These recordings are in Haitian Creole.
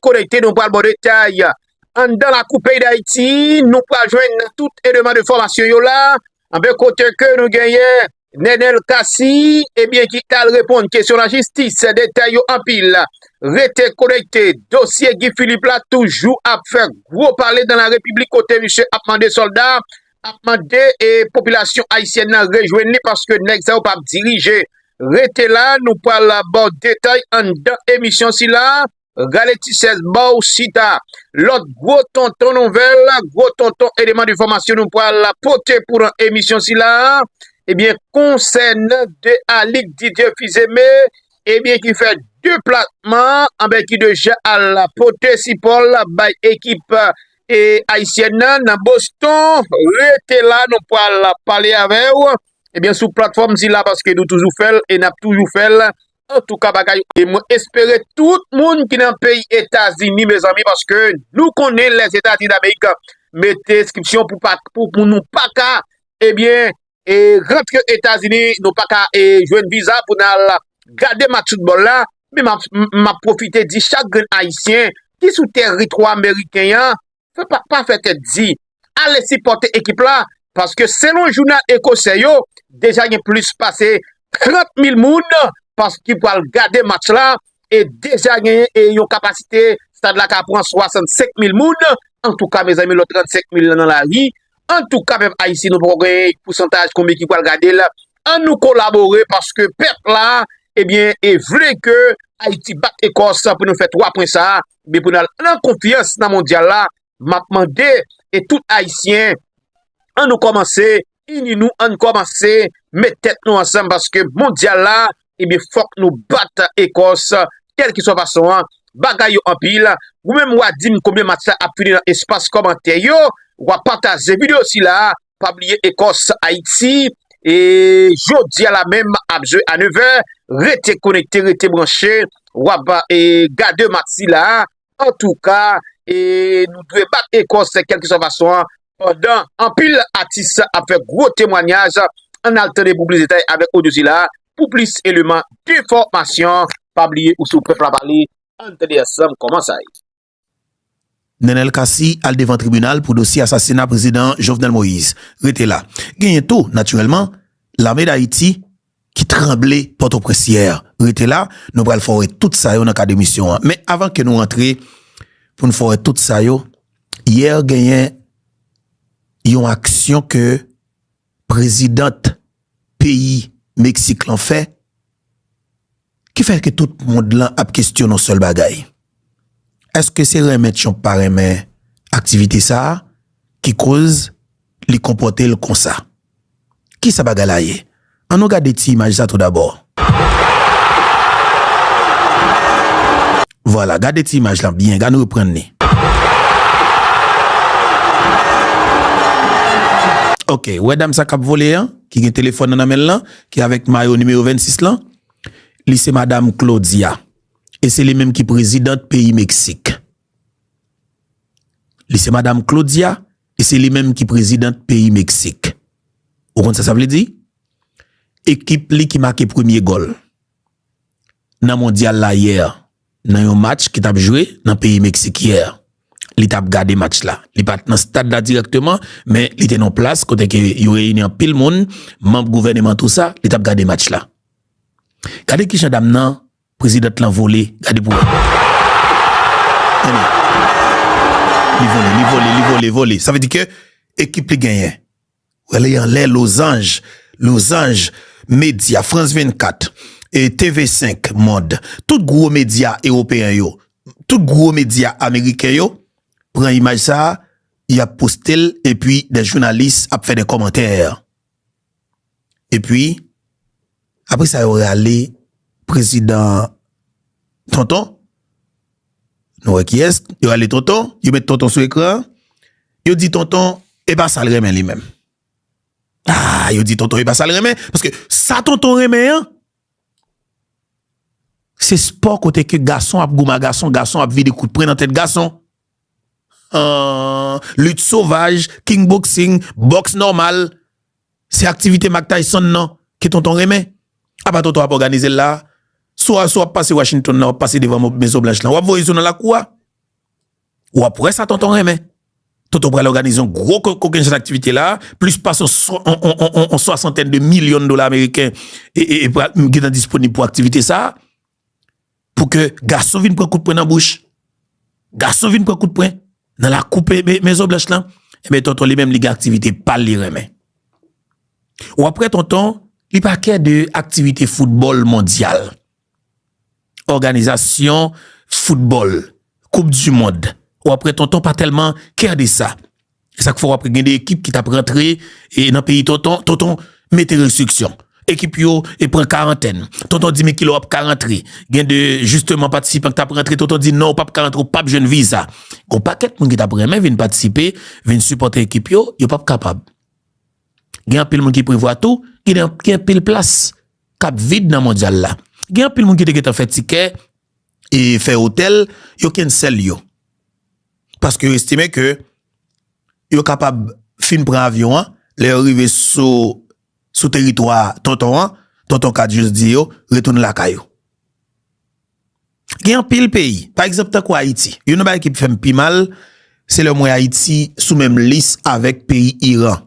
konekte nou pral bon detay. Anndan lakou peyi Dayiti, nou pral jwenn tout eleman de fòmasyon yo la. Anben kote ke nou genyen Nenel Cassy, ebyen ki tal reponn kesyon la jistis, detay yo anpil. Rete konekte, dosye Guy Philippe la toujou ap fè gwo pale dan la repiblik kote misye ap mande sòlda, ap mande e popilasyon Ayisyèn nan rejwenn li paske nèg sa yo pap dirije. Rete la, nou pral baw detay anndan emisyon sila. Rale ti chèz baw chita. Lòt gwo tonton nouvèl, gwo tonton eleman de fòmasyon nou pral pote pou nan emisyon sila a, ebyen konsènan de Alix Didier Fils-Aimé ebyen ki fè deplasman anben ki deja al pote sipò l bay ekip ayisyèn nan nan Boston. Rete la nou pral pale avè w ebyen sou platfòm sila paske nou toujou fè l e nap toujou fè l Antouka bagay e mwen espere tout moun ki nan peyi etazini mezanmi paske nou konnen les etazini damerik mete reskipsyon pou nou paka ebyen e rantre etazini nou paka e jwen viza pou nal gade match foutbol la mi map profite di chak grenn ayisyen ki sou teritwa meriken yan Pa fè tèt di, ale sipòte ekip la paske selon jounal ekosè yo, deja gen plis pase 30 mil moun ki pral gade match la e deja gen yon kapasite stad la ka pran 65 mil moun. Antouka mezanmi lòt 35 mil lan nan lari. Antouka pèp Ayisyen nou poko gen pousantaj konbyen ki pral gade l. An nou kolabore paske pèp la e vle ke Ayiti bat Ekòs pou nou fè 3 pwen sa a. men pou nan nan konfyans nan mondyal la map mande e tout ayisyen an nou komanse ini nou an komanse met tèt nou ansanm paske mondyal la ebi fok nou bat ekos kelke swa fason an bagay yo anpil ou menm wa dim konbyen match la ap fini nan espas komantè yo wa pataje video sila Pa bliye Ecos Haiti e jodia la menm ap jwe a 9 vè rete konekte rete branche wap e gade match sila antouka e nou dwe bat Ecos kelkiswa fason an pandan anpil atis ap fè gwo temwanyaj an al tande pou plis detay avèk odyo sila pou plis eleman defòmasyon pa bliye ou se ou pèp la pale ann tande ansanm kòman sa ye. Nenel Cassy al devan tribinal pou dosye asasina prezidan Jovenel Moïse rete la. Genyen tou, natirèlman, lame Dayiti ki tranble Pòtoprens yè. Rete la, nou pral fè w wè tout sa yo nan kad emisyon an. Men avan ke nou rantre pou nou fè w wè tout sa yo, yè genyen yon aksyon ke President peyi Mexique lan fè ki fè ke tout mond lan ap kesyon yon sèl bagay? Eske se renmen Trump pa renmen aktivite sa a ki koz li konpòte l konsa? Ki sa bagay la ye? An nou gade ti imaj sa tou dabò. Vwala gade ti imaj lan byen gan reprann li. Ok ou wè dam sa kap vole an ki gen telefòn nan nan menl lan ki avèk mayo nimewo 26 lan li se madam Claudia e se li menm ki prezidant peyi meksik li se madam Claudia e se li menm ki prezidant peyi meksik ou konn sa sa vle di ekip li ki make premye gòl. nan mondyal la yè nan yon match ki tap jwe nan peyi Meksik yè li tap gade match la li pat nan stad la dirèkteman men li te nan plas kote ke yo reyini anpil moun manb gouvèneman tou sa li tap gade match la gade kijan dam nan prezidant lan vole gade pou wè tande li vole li vole li vole vole sa vle di ke ekip li genyen. Rele anlè lozanj Lozanj medya Frans 24 e TV 5 mond Tout gwo medya ewopeyen yo Tout gwo medya ameriken yo Pran imaj sa a y ap poste l epi dè jounalis ap fè dè kòmantè epi apre sa yo rale prezidan Tonton Nou wè kiyès? Yo ale Tonton, yo met Tonton sou ekran an, yo di Tonton e pa sa l renmen li menm. Aa, yo di Tonton e pa sa l renmen, paske sa Tonton renmen an, se spò kote ke gason ap goumen a gason, gason ap vide kout pwen nan tèt gason. Aa, lit sovaj, king boksing, bòks nòmal, Se aktivite Mack Tyson nan ke Tonton renmen. Apa Tonton ap òganize l la a? Swa sou w ap pase Washington nan w ap pase devan Mezon Blanch lan, w ap voye sou nan lakou a. W ap wè sa Tonton renmen. Tonton pral òganize yon gwo kokennchenn aktivite la a, plis pase yon swasantèn de milyon dola ameriken gen tan disponib pou aktivite sa a. pou ke gason vin pran kout pwen nan bouch, gason vin pran kout pwen nan lakou Mezon Blanch lan, enben Tonton li menm li gen aktivite pa l li renmen. Ou ap wè Tonton, li pa kè de aktivite foutbòl mondyal, òganizasyon foutbòl, koup dimond, ou ap wè Tonton pa tèlman kè de sa. E sak fè wap gen 2 ekip ki tap rantre e nan peyi tonton, tonton mete restriksyon. Ekip yo e pran karantèn. Tonton di men kilè wap ka rantre. Gen 2 jisteman patisipan ki tap rantre, tonton di non ou pap ka rantre ou pap jwenn viza. Gon pakèt moun ki tap renmen vin patisipe, vin sipòte ekip yo, yo pap kapab. Gen anpil moun ki prevwa tou, gen anpil plas kap vid nan mondyal la. Gen anpil moun ki te gentan fè tikè e fè otèl, yo kensèl yo. Paske yo estime ke yo kapab fin pran avyon an, lè yo rive sou teritwa tonton an, tonton ka jis di yo retounen lakay yo. Gen anpil peyi, pa egzanp tankou Ayiti, youn nan bagay ki fè m pi mal, se lè m wè Ayiti sou menm lis avèk peyi Iran.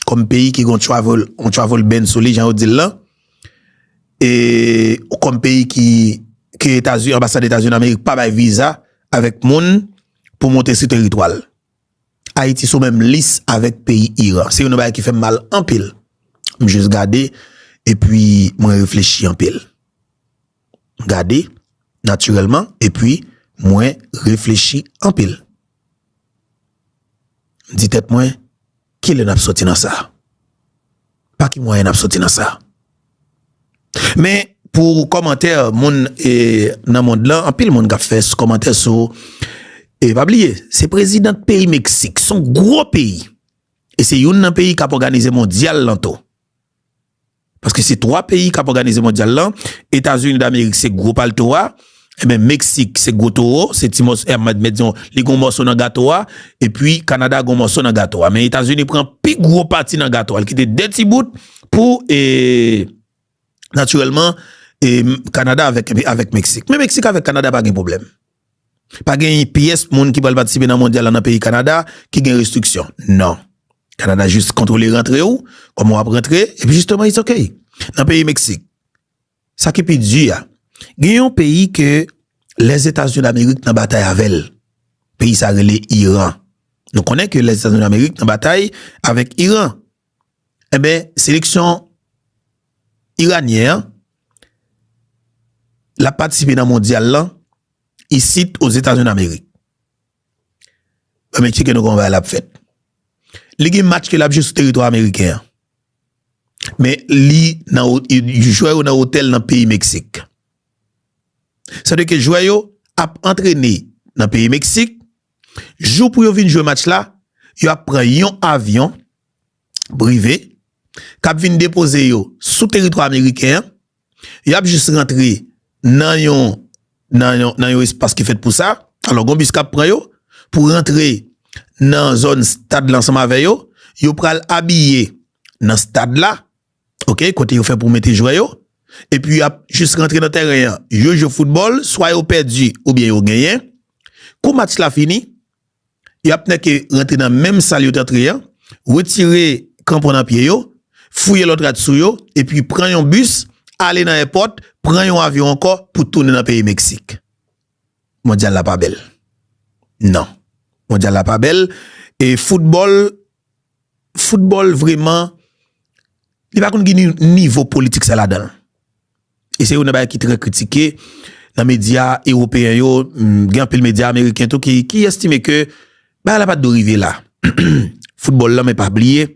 kòm peyi ki gon travel on travel ban sou li jan yo dil lan e ou kòm peyi ki ke etazi anbasad etazi nan amerik pa bay viza avèk moun pou monte si teritwal ayiti sou menm lis avèk peyi iran se yon nan bagay ki fèm mal anpil m jis gade epi mwen reflechi anpil gade natirèlman epi mwen reflechi anpil. M di tèt mwen, kilè n ap soti nan sa? Pa ki mwayen n ap soti nan sa? Men, pou kòmantè moun nan mond lan, anpil moun k ap fè kòmantè sou, e pa bliye, se prezidant peyi Meksik, s on gwo peyi, e se youn nan peyi k ap òganize mondyal lan tou. Paske se 3 peyi kap òganize mondyal lan, Etazini damerik se gwo palto a, enben Meksik se gwo towo, se ti mòso, e mwen mèt di w, li gon mòso nan gato a, epi Kanada gon mòso nan gato a. Men Etazini pran pi gwo pati nan gato a, li kite 2 ti bout pou e natirèlman e Kanada avèk Meksik. Men Meksik avèk Kanada pa gen pwoblèm. Pa gen yon pyès moun ki pral patisipe nan mondyal la nan peyi Kanada ki gen restriksyon. Non. Kanada jis kontwole rantre ou, kòman w ap rantre, epi jisteman it's ok. Nan peyi Meksik, sa ki pi di a, gen yon peyi ke Lèzetazini Damerik nan batay avè l. Peyi sa rele Iran. Nou konnen ke Lèzetazini Damerik nan batay avèk Iran. Enben, seleksyon iranyen an, l ap patisipe nan mondyal lan, isit o Zetazini Damerik. Mwen tcheke nou konwen bagay la ap fèt. Li gen match ke l ap jwe sou teritwa ameriken an. Men li nan, jwè yo nan otèl nan peyi Meksik. Sa vle di ke jwè yo ap antrene nan peyi Meksik. Jou pou yo vin jwe match la, yo ap pran yon avyon prive k ap vin depoze yo sou teritwa ameriken an. Y ap jis rantre nan yon espas ki fèt pou sa. Alò, gen yon bis k ap pran yo pou rantre nan zòn stad la ansanm avè yo. Yo pral abiye nan stad la. Ok kote yo fè pou mete jwè yo epi yap jis rantre nan tèren an yo jwe foutbòl swa yo pèdi oubyen yo genyen kou match la fini yap nèke rantre nan menm sal yo t antre an retire kranpon nan pye yo fouye lòt rad sou yo epi pran yon bis ale nan èpòt pran yon avyon ankò pou tounen nan peyi Meksik Mondyal la pa bèl nan Mondyal la pa bèl e foutbòl. football vreman li pa konn gen nivo politik sa ladan e se yon nan bagay ki trè kritike nan medya ewopeyen yo gen anpil medya ameriken tou ki estime ke bagay la pat do rive la football la men pa bliye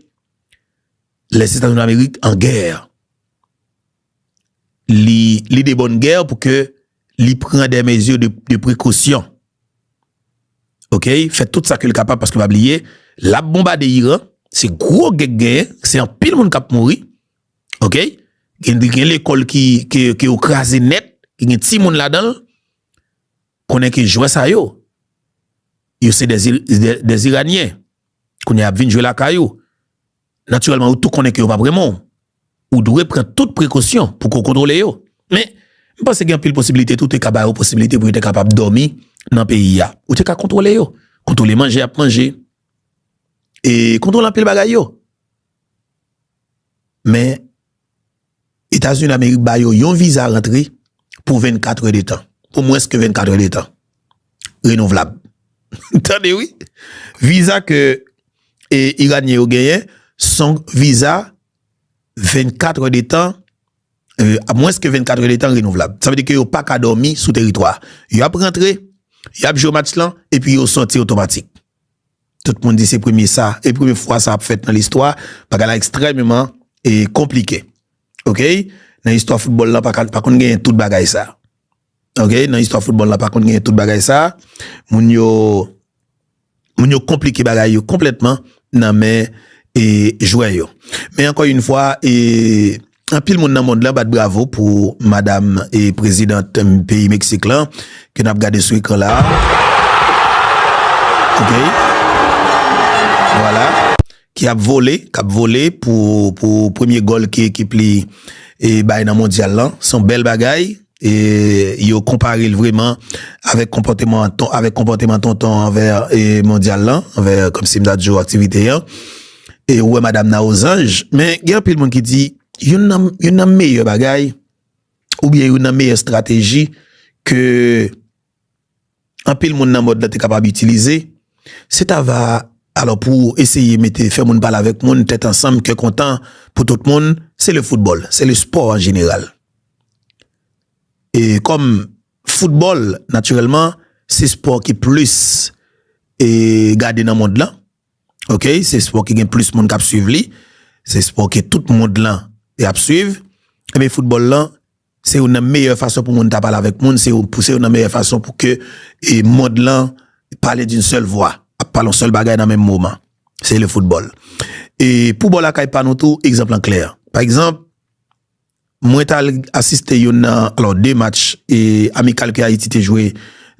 lè se etazini amerik an gè il est de bonne guerre pou ke li pran des mesures de precaution. Ok, fè tout sa ke li kapab paske pa bliye, lap bonbade Iran, se gwo gè k genyen, se anpil moun kap mouri, ok, gen lekòl ki yo kraze nèt, ki gen ti moun ladan, konnen ke jwè sa yo, yo se des Iranien, kounye ap vin jwe lakay ou. Natirèlman, ou tou konnen ke yo pap renmen w. Ou dwe pran tout prekosyon pou ke w kontwole yo. Men, m panse gen anpil posibilite tou, ou te ka ba yo posibilite pou yo te kapab dòmi nan peyi a. Ou te ka kontwole yo. Kontwole manje y ap manje. E kontwole anpil bagay yo. Men. Etazini Damerik ba yo yon viza rantre pou 24 è de tan, pou mwens ke 24 è de tan, renouvlab. Tande wi! Viza ke Iranyen yo genyen, son viza 24 è de tan, a mwens ke 24 è de tan, renouvlab. Sa vle di ke yo pa ka dòmi sou teritwa. Yo ap rantre, y ap jwe match lan, epi yo sòti otomatik. Tout moun di se premye sa, e premye fwa sa ap fèt nan listwa, bagay la ekstrèmeman e konplike ok, nan istwa foutbòl la pa ka pa konn genyen tout bagay sa ok, nan istwa foutbòl la pa konn genyen tout bagay sa, moun yo moun yo konplike bagay yo konplètman nan men e jwè yo men ankò yn fwa e. Anpil moun nan mond lan bat bravo pou madam e president peyi Mexique lan ke nap gade sou ekran la ok vwala ki ap vole kap vole pou premye gòl ki ekip li e bay nan mondyal lan son bèl bagay. E yo konpare l vreman avèk konpòteman tonton an anvè mondyal lan, anvè kòmsi m ta di ou aktivite an. E ou wè madam nan ozanj. Men gen anpil moun ki di youn nan meyè bagay oubyen youn nan meyè estrateji ke. anpil moun nan mond lan te kapab itilize, se ta va alò pou eseye mete fè moun pale avèk moun tèt ansanm kè kontan pou tout moun se le foutbòl, se le spò an jeneral. E kòm foutbòl natirèlman se spò ki plis e gade nan mond lan ok se spò ki gen plis moun k ap swiv li se spò ke tout mond lan y ap swiv enben foutbòl lan Se youn nan meyè fason pou moun ta pale avèk moun, se youn nan meyè fason pou ke mond lan pale d'un sèl vwa, ap pale yon sèl bagay nan menm moman, se le foutbòl. E pou bò lakay pa nou tou, egzanp lan klè. Pa egzanp, mwen t'al asiste youn nan, alò 2 match amikal ke Ayiti te jwe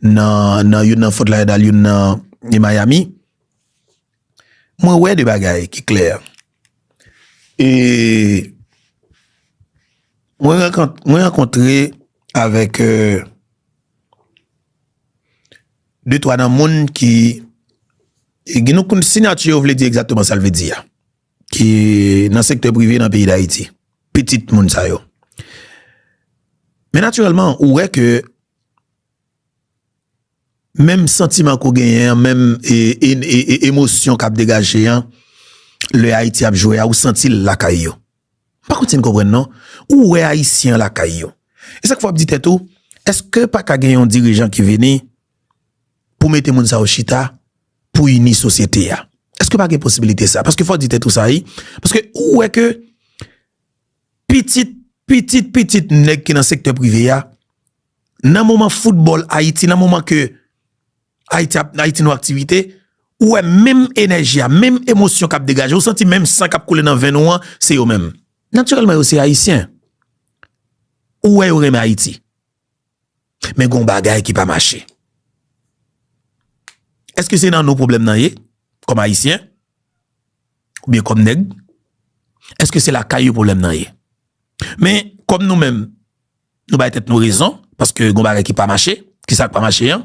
nan youn nan Fort Lauderdale, youn nan Miami. Mwen wè 2 bagay ki klè. E mwen rankontre avèk de twa nan moun ki gen nou konn sinyati yo vle di egzatman sa l vle di a, ki nan sektè prive nan peyi Dayiti, pitit moun sa yo. Men natirèlman ou wè ke Menm santiman ke w genyen an, menm emosyon k ap degaje an, lè Ayiti ap jwe a, ou santi l lakay yo. M pa konn si n konprann non. Ou wè Ayisyen an lakay yo. E sa k fè w ap di tèt ou, èske pa ka gen yon dirijan ki vini pou mete moun sa yo chita pou ini sosyete a? Èske pa gen posibilite sa? Paske fò w di tèt ou sa wi. Paske ou wè ke pitit pitit pitit nèg ki nan sektè prive a nan moman foutbòl ayiti nan moman ke ayiti ap ayiti nou aktivite ou wè menm enèji a menm emosyon kap degaje ou santi menm san kap koule nan venn ou an se yo menm natirèlman yo se ayisyen ou wè yo renmen ayiti. Men gon bagay ki pa mache. Eske se nan nou pwoblèm nan ye? Kòm ayisyen? Ou byen kòm nèg? Eske se lakay yo pwoblèm nan ye? Men, kòm nou menm, nou bay tèt nou rezon, paske gon bagay ki pa mache, ki sa k pa mache an?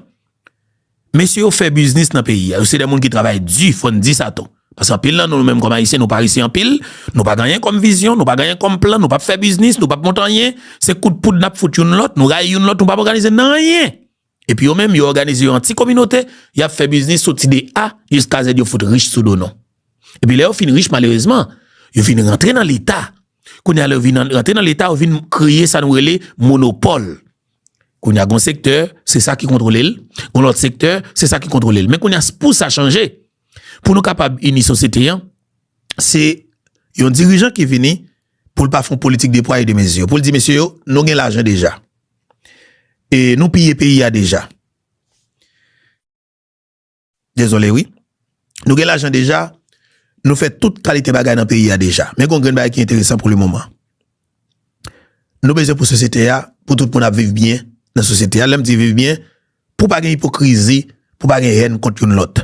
Mesye yo fè biznis nan peyi a, yo se de moun ki travay di, fò n di sa tou. Paske anpil nan nou, nou menm kòm Ayisyen, nou parese anpil, nou pa gen anyen kòm vizyon, nou pa gen anyen kòm plan, nou pap fè biznis, nou pap monte anyen, se kout poud n ap fout youn lòt, nou rayi youn lòt, nou pap òganize nan anyen. Epi yo menm, yo òganize yo an ti kominote, y ap fè biznis soti de A jiska Z, yo fout rich sou do nou. Epi lè yo fin rich, malerezman, yo vin rantre nan Leta. Kounye a lè yo vin rantre nan Leta, yo vin kreye sa nou rele monopòl. Kounye a gon sektè, se sa ki kontwole l, gon lòt sektè, se sa ki kontwole l. Men kounye a pou sa chanje, pou nou kapab ini sosyete an, se yon dirijan ki vini pou l pa fon politik de pwa e de mezi. Pou l di mesye yo, nou gen lajan deja. E nou piye peyi a deja. Dezole wi. Nou gen lajan deja, nou fè tout kalite bagay nan peyi a deja. Men gon grenn bagay ki enteresan pou le moman. Nou bezwen pou sosyete a, pou tout moun ap viv byen nan sosyete a. Lè m di viv byen, pou pa gen ipokrizi, pou pa gen hèn kont youn lòt.